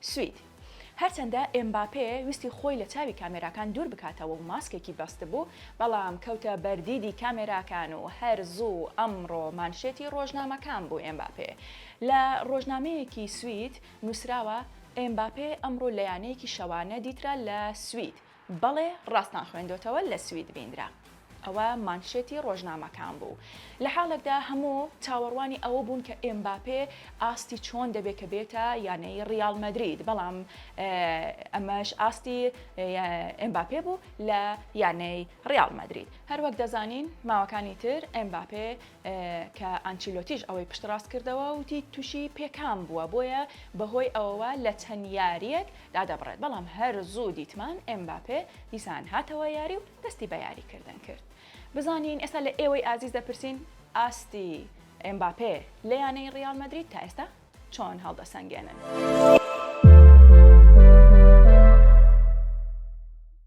سوید، هەرچەندە ئێمباپێ ویستی خۆی لە چاوی کامێراکان دوور بکاتەوە و ماسکێکی بەستبوو، بەڵام کەوتە بەر دیدی کامێراکان و هەر زوو ئەمڕۆ مانشێتی رۆژنامەکان بوو ئێمباپێ. لە رۆژنامەیەکی سوید نووسراوە، ئێمباپێ ئەمڕۆ لە یانەیەکی شەوانە دیترا لە سوید، بەڵێ ڕاستان خوێندۆتەوە لە سوید بیندرا. ئەوە مانشێتی ڕۆژنامەکان بوو لە حاڵێکدا هەموو چاوەڕوانی ئەوە بوون کە ئێمباپێ ئاستی چۆن دەبێ کە بێتە یانەی ڕیاڵ مەدرید بەڵام ئەمەش ئاستی ئێمباپێ بوو لە یانەی ڕیاڵ مەدرید هەروەک دەزانین ماوەکانی تر ئێمباپێ کە ئانچیلۆتیش ئەوەی پشتڕاست کردەوە و وتی تووشی پێکان بووە، بۆیە بەهۆی ئەوەوە لە چەند یارییەک دادەبڕێت، بەڵام هەر زوو دیتمان ئێمباپێ دیسان هاتەوە یاری و دەستی بە یاریکردن کرد. بزانین ئێستا لە ئێوەی ئازیز دەپرسین ئاستی ئێمباپێ لە یانەی ڕیاڵ مەدرید تا ئێستا چۆن هەڵدەسەنگێنن؟